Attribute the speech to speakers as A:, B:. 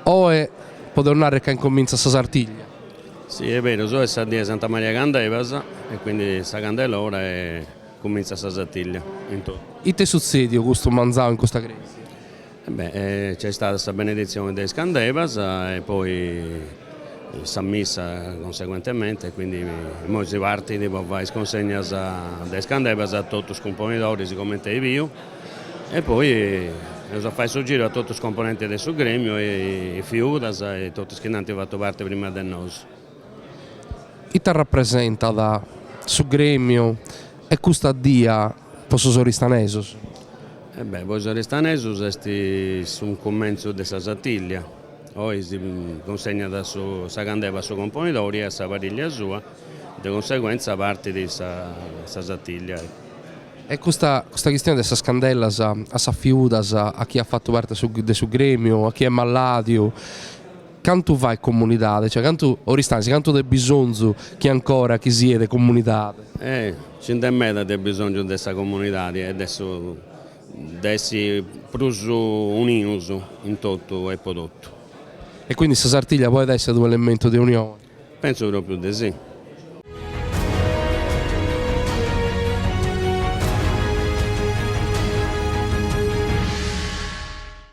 A: Oe podimus narrer ca incomintzat sa Sartiglia. Si est
B: berus, oe est sa die 'e Santa Maria Candevas e quindi sa Candelora e comintzat sa Sartiglia. Ite est
A: sutzediu custu manzanu in custa crèsia? Beh,
B: nc'est istada sa beneditzione de is candebas e poi sa missa conseguentemente, quindi imoi si partit po fai is consegnas de is candebas a totu is cumponidoris comente as biu e poi eus a fai su giru a totu is componentes de su gremiu, is fiudas e totu is chi nd'ant fatu parti prima de nosu.
A: Ite arrapresentat su grèmiu e custa die pro sos oristanesos? E bè, pro
B: is oristanesos est su cumentzu de sa Sartìllia, oi si cunsegnat sa candeva a su componidori e a sa parìllia sua, de cunseguentza partit sa Sartìllia.
A: E custa chistione de sas candellas a sas fiudas, a chie at fatu parte de su grèmiu, a chie est malàdiu? Cantu fait comunidade, cioè cantu Oristànisi cantu de bisonzu ch'at ancora chi siat comunidade? Eh! Nci
B: nd'est meda de bisonzu de sa comunidadi e de su de essi prus unius in totu e po totu. E
A: quindi sa
B: Sartiglia
A: podet
B: esser
A: unu elementu de unione? Pensu
B: propriu
A: de si.